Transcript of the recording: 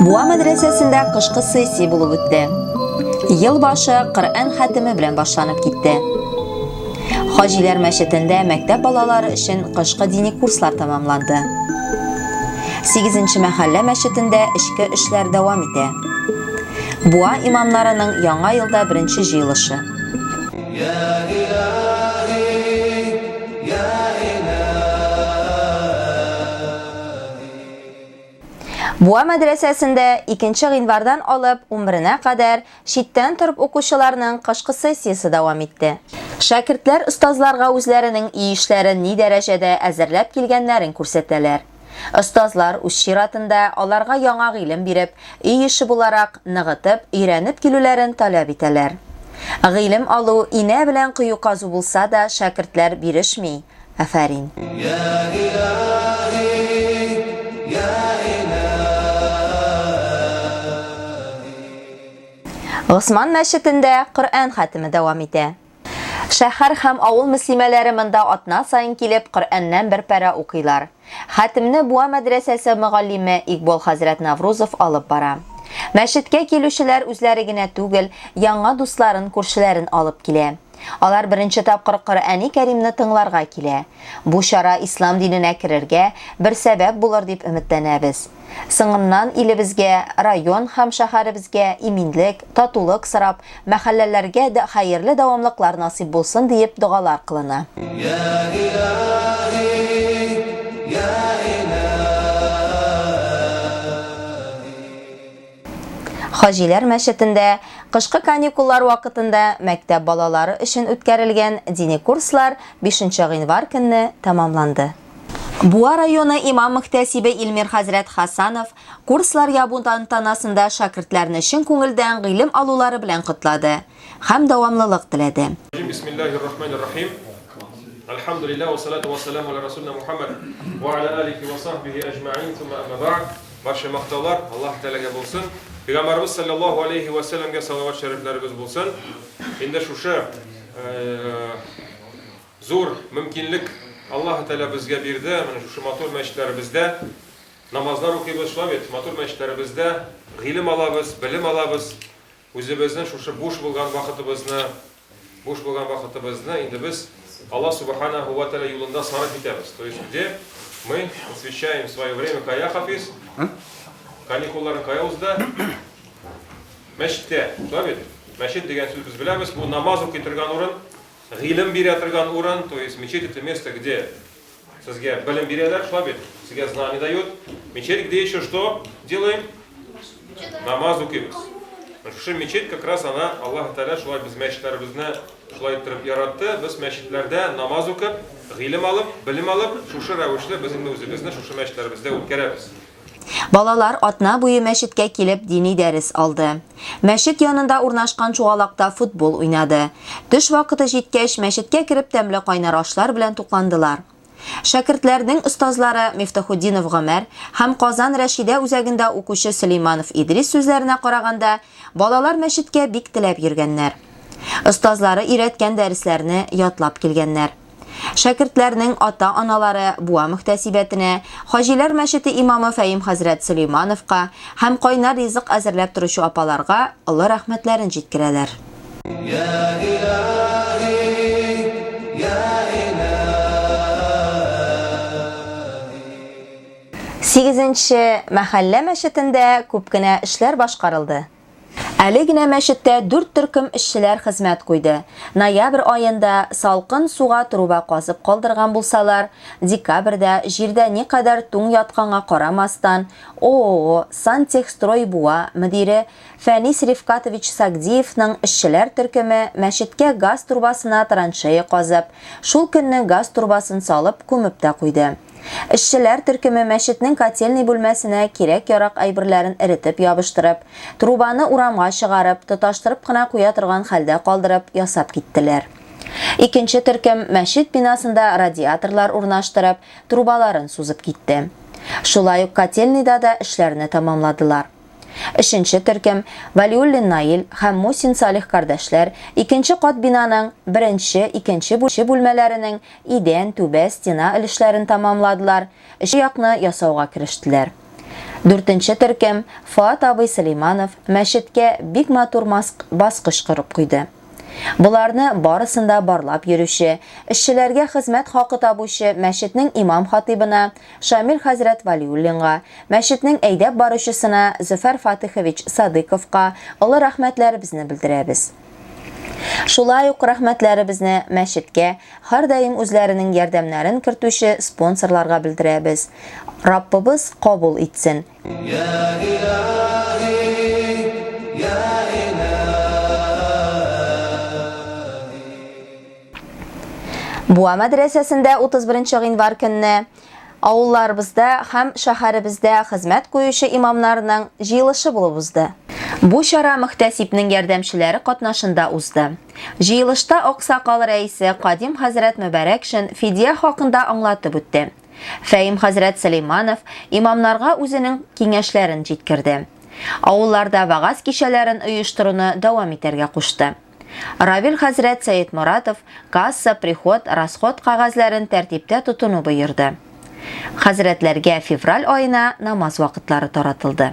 Буа мәдрәсәсендә кышкы сессия булып үтте. Ел башы Коръән хәтеме белән башланып китте. Хаҗиләр мәчетендә мәктәп балалары өчен кышкы дини курслар тәмамланды. 8 мәхәллә мәчетендә эчке эшләр дәвам итә. Буа имамнарының яңа елда беренче җыелышы. Буа мәдрәсәсендә 2 гыйнвардан алып 11-нә кадәр читтән торып укучыларның кышкы сессиясе дәвам итте. Шәкертләр остазларга үзләренең өй эшләрен ни дәрәҗәдә әзерләп килгәннәрен күрсәтәләр. Остазлар, үз чиратында, аларга яңа гыйлем биреп, өй эше буларак, ныгытып, өйрәнеп килүләрен таләп итәләр. Гыйлем алу, инә белән кою казу булса да, шәкертләр бирешми, Афәрин! Госман мәчетендә Коръән хәтеме дәвам итә. Шәһәр һәм авыл мөслимәләре монда атна саен килеп, Коръәннән бер пәрә укыйлар. Хәтемне Буа мәдрәсәсе мөгаллиме Икбол хәзрәт Наврузов алып бара. Мәчеткә килүчеләр үзләре генә түгел, яңа дусларын, күршеләрен алып килә. Алар беренче тапкыр Коръәни Кәримне тыңларга килә. Бу чара ислам диненә керергә бер сәбәп булыр дип өметләнәбез. Соңыннан илебезгә, район һәм шәһәребезгә иминлек, татулык сорап, мәхәлләләргә дә хәерле дәвамлыклар насыйп булсын диеп догалар кылына. Йә Илаһи, йә Илаһи. Хаҗиләр мәчетендә кышкы каникуллар вакытында мәктәп балалары өчен үткәрелгән дини курслар бишенче гыйнвар көнне тәмамланды. Буа районы имам-мөхтәсибе Илмир хәзрәт Хасанов курслар ябу тантанасында шәкертләрне чын күңелдән гыйлем алулары белән котлады һәм дәвамлылык теләде. Бисмиллаһир рахманир рахим. Әлхәмдүлиллаһ вә салату вә сәламу ала рәсүлинә Мухәммәд вә ала алихи вә сахбихи әҗмәгыйн, сумма әмма бәгъд. Барча мактаулар Аллаһ Тәгаләгә булсын. Пәйгамбәребез салләллаһу алейһи вә сәләмгә салават-шәрифләребез булсын. Инде шушы Зур мөмкинлек Аллаһы Тәгалә безгә бирде, менә шушы матур мәчетләребездә намазлар укыйбыз, шулай бит, матур мәчетләребездә гыйлем алабыз, белем алабыз, үзебезнең шушы буш булган вакытыбызны, буш булган вакытыбызны инде без Аллаһ Субханаһу вә Тәгалә юлында сарыф итәбез, то есть где мы посвящаем свое время, кая, Хафиз? Каникулларың кая узды? Мәчеттә, шулай бит? Мәчет дигән сүз без беләбез, бу намаз укый торган урын, Гыйлем бирә торган урын, то есть мечеть это место где сезгә белем бирәләр, шулай бит? Сезгә знание дают. Мечеть где еще что делаем? Намаз укыйбыз. Шушы мечеть как раз она Аллаһ Тәгалә шулай без мәчетләребезне шулай иттереп яратты. Без мәчетләрдә намаз укып, гыйлем алып, белем алып, шушы рәвешле без инде үзебезне шушы мәчетләребездә үткәрәбез. Балалар атна буе мәчеткә килеп дини дәрес алды. Мәчет янында урнашкан чуалакта футбол уйнады. Төш вакыты җиткәч, мәчеткә кереп тәмле кайнар ашлар белән тукландылар. Шәкертләрнең остазлары Мифтахутдинов Гомәр һәм Казан Рәшидә үзәгендә укучы Сөлейманов Идрис сүзләренә караганда, балалар мәчеткә бик теләп йөргәннәр. Остазлары өйрәткән дәресләрне ятлап килгәннәр. Шәкертләрнең ата-аналары Буа мөхтәсибәтенә, Хаҗиләр мәчете имамы Фәим хәзрәт Сөләймановка һәм кайнар ризык әзерләп торучы апаларга олы рәхмәтләрен җиткерәләр. Сигезенче мәхәллә мәчетендә күп кенә эшләр башкарылды. Әле генә мәчеттә дүрт төркем эшчеләр хезмәт куйды. Ноябрь аенда салкын суга труба казып калдырган булсалар, декабрьдә, җирдә никадәр туң ятканга карамастан, ООО Сантехстрой Буа мөдире Фәнис Рифкатович Сагдиевның эшчеләр төркеме мәчеткә газ трубасына траншея казып, шул көнне газ трубасын салып, күмеп тә куйды. Эшчеләр төркеме мәчетнең котельный бүлмәсенә кирәк-ярак әйберләрен эретеп ябыштырып, трубаны урамга чыгарып, тоташтырып кына куя торган хәлдә калдырып, ясап киттеләр. Икенче төркем мәчет бинасында радиаторлар урнаштырып, трубаларын сузып китте. Шулай ук котельныйда да эшләрне тәмамладылар. Өченче төркем, Вәлиуллин Наил һәм Мусин Салих кардәшләр, икенче кат бинаның беренче, икенче бүлмәләренең идән, түбә, стена өлешләрен тәмамладылар, өченче якны ясауга керештеләр. Дүртенче төркем, Фоат абый Сөләйманов мәчеткә бик матур баскыч корып куйды. Боларны барысын да барлап йөрүче, эшчеләргә хезмәт хакы табучы мәчетнең имам-хатыйбына Шамил хәзрәт Вәлиуллинга, мәчетнең әйдәп баручысына Зөфәр Фатыйхович Садыйковка олы рәхмәтләребезне белдерәбез. Шулай ук рәхмәтләребезне мәчеткә һәрдаим үзләренең ярдәмнәрен кертүче спонсорларга белдерәбез. Раббыбыз кабул итсен, Буа мәдрәсәсендә 31 гыйнвар көнне авылларыбызда һәм шәһәребездә хезмәт куючы имамнарның җыелышы булып узды. Бу чара мөхтәсибнең ярдәмчеләре катнашында узды. Җыелышта аксакал рәисе Кадим хәзрәт Мөбәрәкшин фидия хакында аңлатып үтте. Фәим хәзрәт Сөләйманов имамнарга үзенең киңәшләрен җиткерде. Авылларда вагаз кичәләрен оештыруны дәвам итәргә кушты. Равил хәзрәт Сәетморатов касса, приход, расход кәгазьләрен тәртиптә тотуны боерды. Хәзрәтләргә февраль аена намаз вакытлары таратылды.